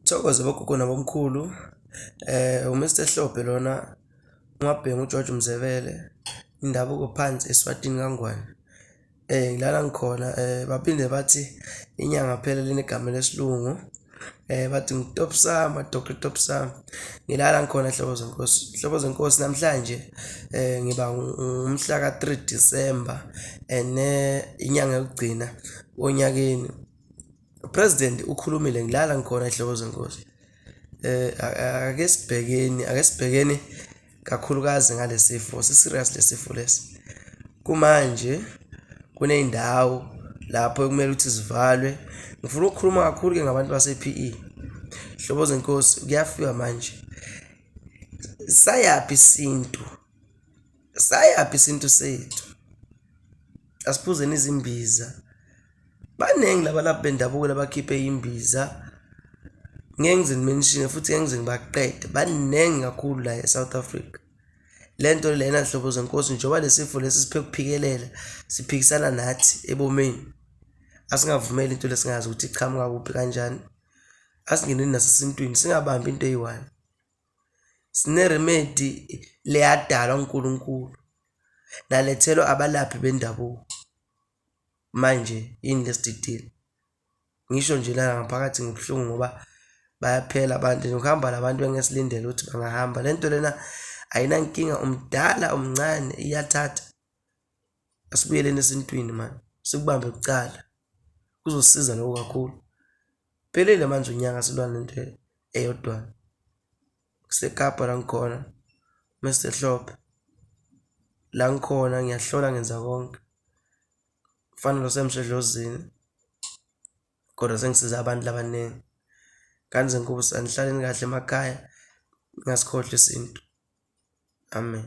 Thokoza bogogo nabomkhulu u-Mister Hlophe lona uMabhena uJojo uMzebele, indabuko phansi eSwatini kaNgwane. Ngilana ngikhona baphinde bathi inyanga phela linegama lesilungu bathi ngitopsama, doctor topsam. Ngilana ngikhona nhlobo zenkosi, nhlobo zenkosi namhlanje ngiba ngomhlaka three December ene inyanga yokugcina onyakeni. upresident ukhulumile ngilala ngikhona ehloko zenkosi eh ake sibhekeni ake sibhekeni kakhulukazi ngalesifo siserious lesifo lesi kumanje kuneyindawo lapho ekumele ukuthi zivalwe ngifuna ukukhuluma kakhulu ke ngabantu base-PE hlobo zenkosi kuyafika manje sayaphi isintu sayaphi isintu sethu asiphuzeni izimbiza baningi labalaphi bendabuko labakhiphe imbiza ngeke ngize ngimenishine futhi ngeke ngize ngibaqede baningi kakhulu la e-south africa le nto lena nhlobo zenkosi njengoba lesifo lesi siphe kuphikelela siphikisana nathi ebomeni asingavumeli into lesingazi ukuthi iqhamuka kuphi kanjani asingeneni nasesintwini singabambi into eyi-one Sine-remedy le yadalwa uNkulunkulu, nalethelwa abalaphi bendabuko. Manje yini le sididile? Ngisho nje la ngaphakathi ngibuhlungu ngoba bayaphela abantu and ukuhamba la bantu bengesilindele ukuthi bangahamba. Le nto lena ayinankinga, umdala umncane iyathatha. asibuyeleni esintwini mani sikubambe kucala kuzosiza lokho kakhulu phelele manje unyaka silwa nento eyodwa kusekapa la ngikhona Mr Hlophe la ngikhona ngiyahlola ngenza konke fanele semshedlozini kodwa sengisiza abantu labaningi kanze nkulu sanihlaleni kahle emakhaya ngasikhohle isintu amen